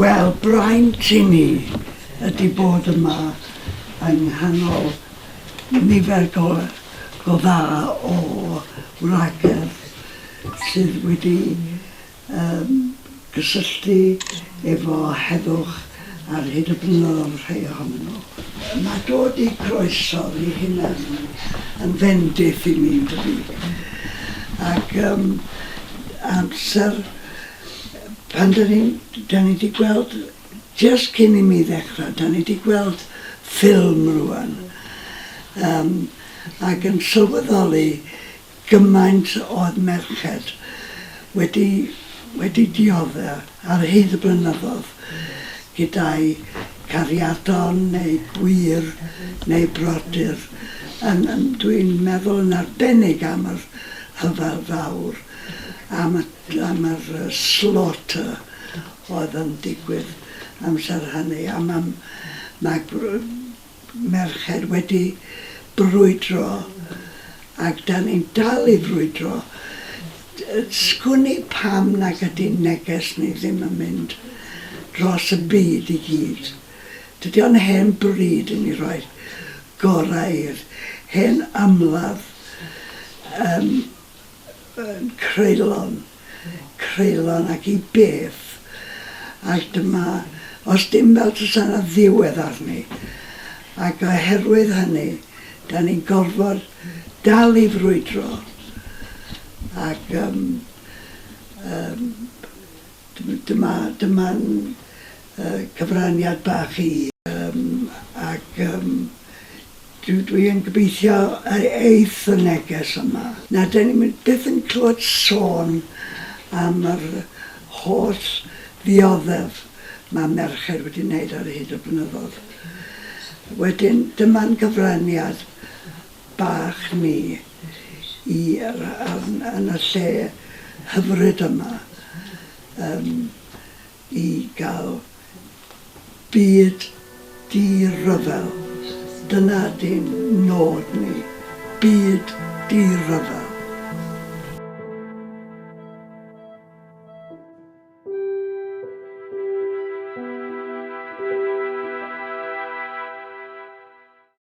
Wel, braint i ni ydy bod yma yng nghanol nifer go, go dda o wragedd sydd wedi ymgysylltu efo heddwch ar hyd y blynyddoedd, rhai ohonyn nhw. Mae dod i groeso'r i hunan yn fendith i mi, yn dydi? Ac ym amser pan dan ni'n, dan ni di gweld, jyst cyn i mi ddechrau, dan ni di gweld ffilm rŵan, ym ac yn sylweddoli Gymaint o merched wedi wedi diodde' ar hyd y blynyddodd gyda'u cariadon neu gwyr neu brodyr, yn yn dwi'n meddwl yn arbennig am yr rhyfel fawr, am y am yr yy slaughter oedd yn digwydd amser hynny, a ma' ma' gw- merched wedi brwydro ac dan ni'n dal i frwydro, sgwn i pam nag ydi neges ni ddim yn mynd dros y byd i gyd. Dydi o'n hen bryd i ni roi'r gorau i'r hen ymladd yym. yn creulon, creulon ac i beth? Ac dyma, os dim fel tasa 'na ddiwedd arni. Ac oherwydd hynny, 'dan ni'n gorfod dal i frwydro ac yym yym Dyma, dyma'n cyfraniad bach i. Yym, ac yym, dw, dwi yn gobeithio y eith y neges yma. Na, dan ni byth yn clywed sôn am yr holl ddioddef mae merched wedi wneud ar hyd y blynyddoedd. Wedyn, dyma'n cyfraniad bach ni. i'r ardd yn y lle hyfryd yma yym i gael byd di-ryfel. Dyna dy nod ni, byd di-ryfel.